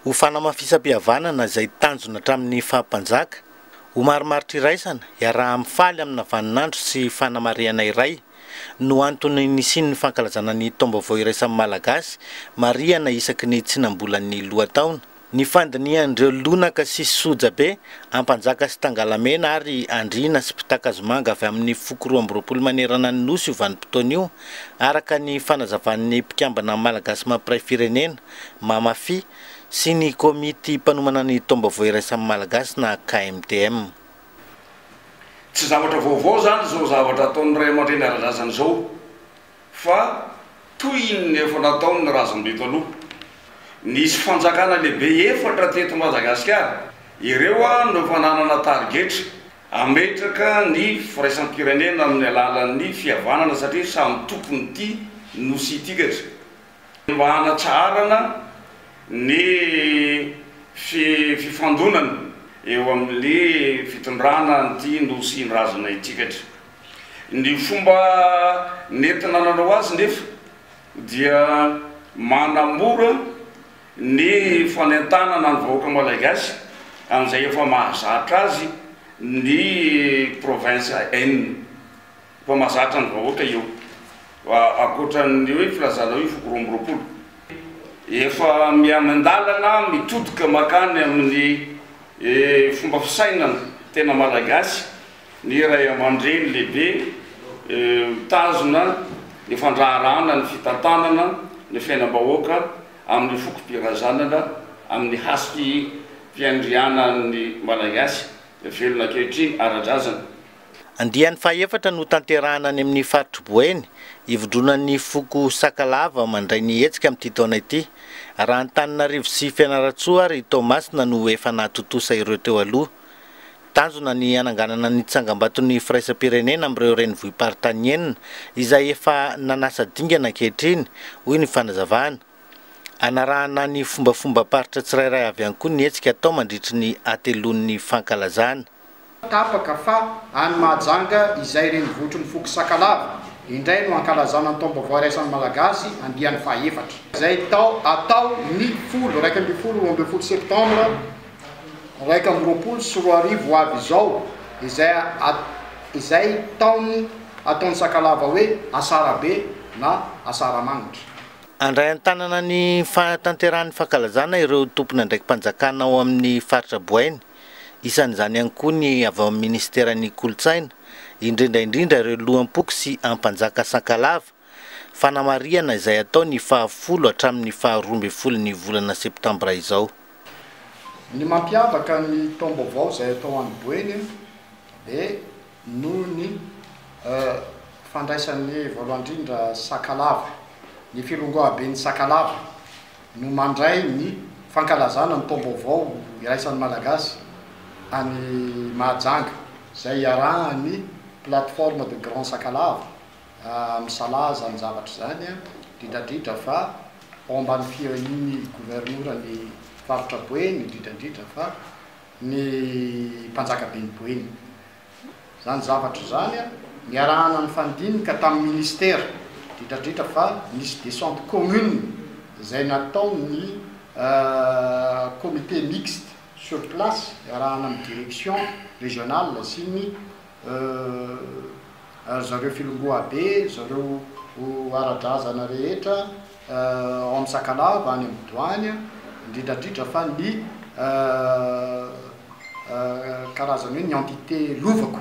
Ho fanamafisam-pihavanana izay tanjona hatramin'ny faha-mpanjaka, ho marimaritra iraisana iaraha-amin'ny faly amina vaninandro sy fanamarihana iray no antony nisian'ny fankalazana ny taom-baovao iraisan'ny Malagasy marihana isaky ny tsinam-bolan'ny lohataona, Ny fandinihan'ireo lonaka sy sojabe, Ampanjaka sy Tangalamena ary Andriana sy Mpitakazomanga avy amin'ny foko roa amby roapolo manerana ny Nosy io vanim-potoana io, araka ny fanazavan'ny mpikambana Malagasy Mampiray Firenena, Mamafi, sy ny Komity Mpanomana ny Taom-baovao Iraisan'ny Malagasy na KMTM. Tsy zavatra vaovao izany izao zavatra ataon'ny ray aman-dreny ara-drazana izao. fa toy ny efa nataon'ny razambe taloha. Nisy fanjakana lehibe efatra teto Madagasikara, ireo no efa nanana tarigetra hametraka ny firaisam-pirenena amin'ny alalan'ny fihavanana satria samy tompon'ity nosy ity kajy mba hanatsaharana ny fifandonana eo amin'ny fitondrana an'ity nosin-drazana ity kajy. Ny fomba nentina nanao azy nefa dia manamora ny fanentanana ny vahoaka Malagasy amin'izay efa mahazatra azy ny province enina. Efa mahazatra ny vahoaka io ankoatran'ny hoe filazanao io foko roa amby roapolo. Efa miha-miandalana mitodika makany amin'ny fomba fisainana tena Malagasy Ny ray aman-dreny lehibe mitazona ny fandraharahana ny fitantanana ny fiainam-bahoaka amin'ny fokom-pirazanana amin'ny hasiki fiandrianan'ny Malagasy velona ankehitriny ara-drazana. Andiany fahefatra no tanterahana any amin'ny faritr'i Boeny, ivondronan'ny foko Sakalava mandray ny hetsika amin'ity taona ity. Raha Antananarivo sy Fianarantsoa ary Toamasina no efa nahatontosa ireo teo aloha. Tanjona ny hananganana ny tsangambaton'ny firaisam-pirenena amin'ireo renivohi-paritany enina izay efa nanasa dingana ankehitriny, hoy ny fanazavana. Hanarahana ny fombafombam-paritra tsirairay avy ihany koa ny hetsika atao mandritry ny hateloan'ny fankalazana. Tapaka fa any Mahajanga izay renivotry ny foko Sakalava indray no hankalazana ny taom-baovao iraisan'ny Malagasy andiany faha-efatra, izay atao ny folo, iraika ambin'ny folo, roa ambin'ny folo septambra iraika amby roapolo sy roa arivo ho avy izao, izay izay taon'ny ataon'ny Sakalava hoe Asarabe na Asaramagnitra. Handray an-tanana ny fahatanterahan'ny fankalazana ireo tompon'andraiki-panjakana ao amin'ny faritra Boeny, isan'izany ihany koa ny avy ao amin'ny minisiteran'ny Kolontsaina, indrindra indrindra ireo loham-poko sy ampanjaka Sakalava, Fanamarihana izay hatao ny fahafolo hatramin'ny faharoa ambin'ny folon'ny volana septambra izao. Ny mampiavaka ny taom-baovao izay atao any Boeny dia noho ny fandraisan'ny voalohany indrindra Sakalava. Ny Firongoaben'i Sakalava no mandray ny fankalazana ny taom-baovao iraisan'ny Malagasy any Mahajanga izay iarahan'ny Plateforme de Grand Sakalava Misalaha izany zavatra izany, indridradridra fa ao ambany fiharian'ny governoran'ny faritra Boeny, indridradridra fa ny mpanjakaben'i Boeny. Izany zavatra izany niarahana nifandimka tamin'ny ministera, indridradridra fa nisy descente commune izay nataon'ny comité mixte sur place iarahana amin'ny direction régionale sy ny. Euh ry zareo filongoa be, ry zareo ara-drazana rehetra ao amin'ny Sakalava, any amin'ny Douane, indrindra indrindra fa ny Euh karazany hoe ny entité lovako.